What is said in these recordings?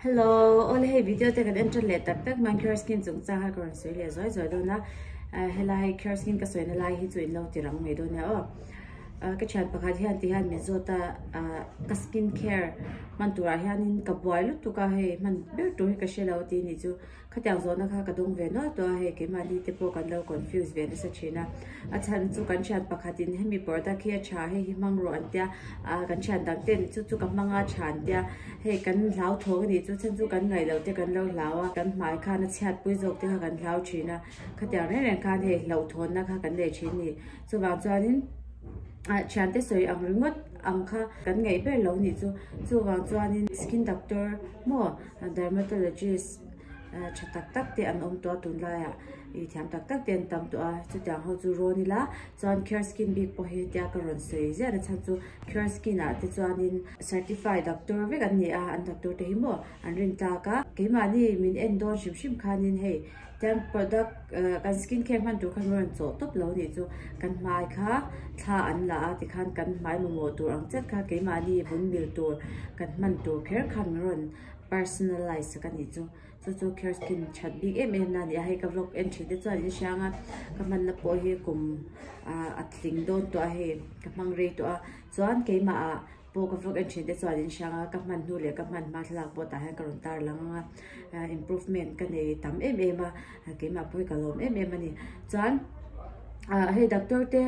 Hello, ole hei video te kan entan leh tak tak mang care skin chung changa ka rawn sawi leh zuai zuai dawn a helai care skin ka sawina lai hi chu in lo ti rang mai dawn nia aw ka thian pakhat hian ti hian min zawt a ka skin care hman turah hian in ka buai lutuk a hei hman ber tur hi ka hre lo tih ni chu Khatiang zawhna kha ka dawng ve nual tawh a, hei keimahni te pawh kan lo confuse ve nasa thin a. A chhan chu kan thian pakhatin hemi product hi a tha hei hi hmang rawh an tia, a kan thian dang te ni chu chu ka hmang a a tha an tia, hei kan hlauthawk a nih chu chhan chu kan ngaihloh te kan lo hlau a, kan hmai khan a chhiatpui zawk te kha kan hlau thin a, khatiang reng reng khan hei hlauhthawnna kha kan nei thin a ni. Chuvang chuanin thiante sawi ang ringawt ang kha kan ngaih ber lo a nih chu, chuvang chuanin skin doctor maw? Dermatologist tha tak tak te an awm tawh a tun laiah ih thiam tak tak te an tam tawh a chutiang ho chu rawn ila chuan care skin bik pawh hi tia ka rawn sawi ziah a chhan chu care skin ah te chuanin certified doctor vek an ni a an doctor te hi maw an rintlak a keimahni min en dawn hrim hrim khanin hei-- Chuan product eh kan skin care hman tur khan rawn chawh tawp lo nih chu kan hmai kha thla an la a ti khan kan hmai mamawh tur ang chet kha keimahni vun mil tur kan hman tur kher kha min rawn personalize sak a nih chu chu chu care skin that bik em em la nia hei ka vlog entry te chuan in hriang a ka hman na pawh hi kum ah a tling dawn tawh a hei ka hmang rei tawh a chuan keimah ah-- Pawh ka vlog en thin te chuan in hrang a, ka hman hnu leh ka hman hma thlalak pawh tah hian ka rawn tar lang ang a, improvement ka nei tam em em a, keimah pawh hi ka lawm em em a ni. Chuan hei doctor te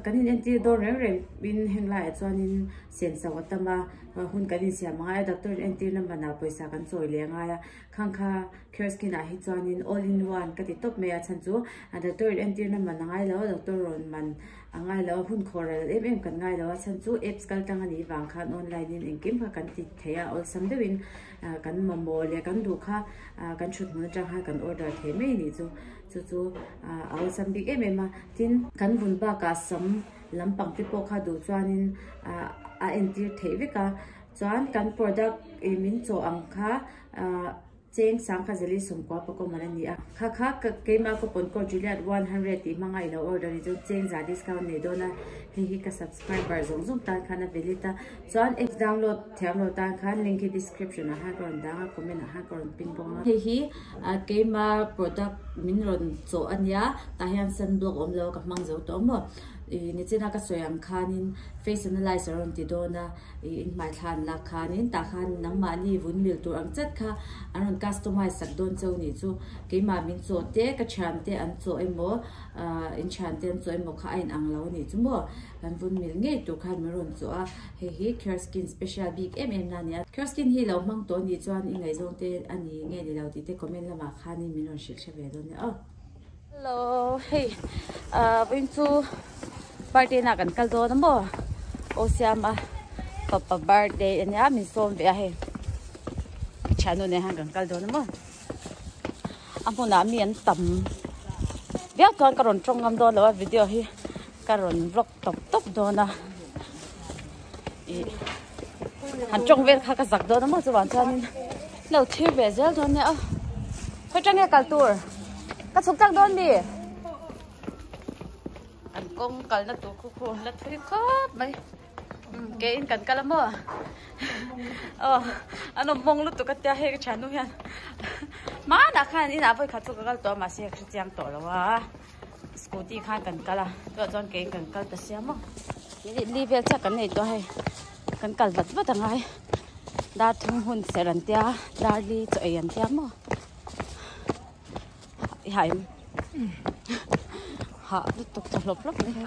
kan in entir dawn reng reng in heng laiah chuan in siam chho a tam a, hun kan insiam a ngai a, doctor in entir na man ah pawisa kan chawi leh a ngai a, khang kha Care Skin ah hi chuan in all in one ka ti tawp mai a, chhan chu doctor in entir na man a ngai lo, doctor rawn man. A ngai lo a, hun khaw ral em em kan ngai lo a, chhan chu apps kal tang a nih vang khan online in engkim kha kan ti thei a, awlsam deuh in kan mamawh leh kan duh kha kan thuthmun atang khan kan order thei mai a nih chu, chu chu a awlsam bik em em a, tin kan vun bak ah sam lam pang te pawh kha duh chuan in a entir theih vek a, chuan kan product min chaw ang kha. Cheng sang kha Zali Sawmkua Pakoman a ni a, kha kha keimah coupon code Juliet one hundred tih hmanga i lo order ni chuan cheng za discount nei dawn a, hei hi ka subscriber zawng zawng tan khan a ve lit a, chuan app download thiam lo tan khan link hi description ah hian ka rawn dang a, comment ah hian ka rawn pin bawk a. Hei hi keima product min rawn chawh a nia, tah hian sun block a awm lo a ka hmang zo tawh maw, i nichina ka sawi ang khanin face analyse a rawn ti dawn a, I inhmaithlan lak khanin tah khan nangmahni vun mil tur ang chet kha an rawn customize sak dawn cho nih chu keimah min chaw te, ka thiam te an chaw emaw, in thian te an chaw emaw kha a in ang lo a nih chu maw. Kan vun mil ngei tur khan min rawn chaw a, hei hi Kerskin special bik em em na a ni a. Kerskin hi lo hmang tawh nih chuan i ngaihzawng te a ni nge ni lo tih te comment lamah khanin min rawn hrilhhre ve dawn nia aw. Hello, hei vawiin chu birthday na kan kal dawn a maw? Aw siama papa birthday a nia min sawm ve a hei. Chhanu nei han kan kal dawn a maw? A hmunah mi an tam viau chuan ka rawn tawng ngam dawn lo a video hi ka rawn vlog tawp tawp dawn a ih han tawng vel kha ka zak dawn a maw chuvang chuanin lo thlir ve zel dawn nia a khawi tang nge kal tur ka chhuk tak dawn mi kan kawng kalna tur khu khu la thui khawp mai hmm, ke in kan kal a maw ờ, oh an awm mawng lutuk a tia hei ka thiannu hian mana khan inah vawi khat chu ka kal tawh a mahse ka hre chiang tawh lo a Scooty khan kan kal a, tuah chuan keng kan kal ta sia maw. Minute li vel chak kan nei tawh hei. Kan kal vat vat anga e. Dar thum hun serh an tia, dar li chaw ei an tia maw. I ha em. Ha, lutuk chaw hlawp hlawp mai.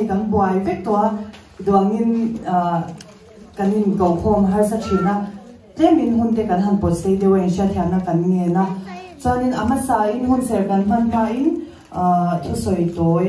hei kan buai vek tawh a duangin kan in ko khawm har sa thin a tlem in hun te kan han pawt sei deuh a in hria thiana kan nge na chuanin a hmasa in hun ser kan hman hma in thusawi tawi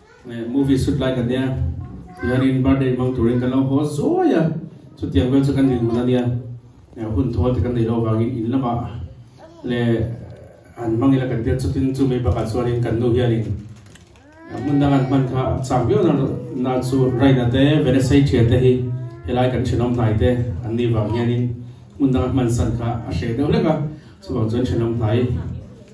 Movie shoot lai ka nia, Hiarin birthday hmang turin kan lo haw zuai a, chutiang vel chu kan rin hun ania, hun thaw te kan nei lo vangin in lama leh an hmang ila kan tirh chutin chu mai bakah chuanin kan nu hianin hmun dang an hman kha a chak viau nana na chu Raina te Venesei thian te hi helai kan thenawm hnai te an ni vang hianin hmun dang a hman san kha a hreh deuh hlek a chuvang chuan thenawm hnai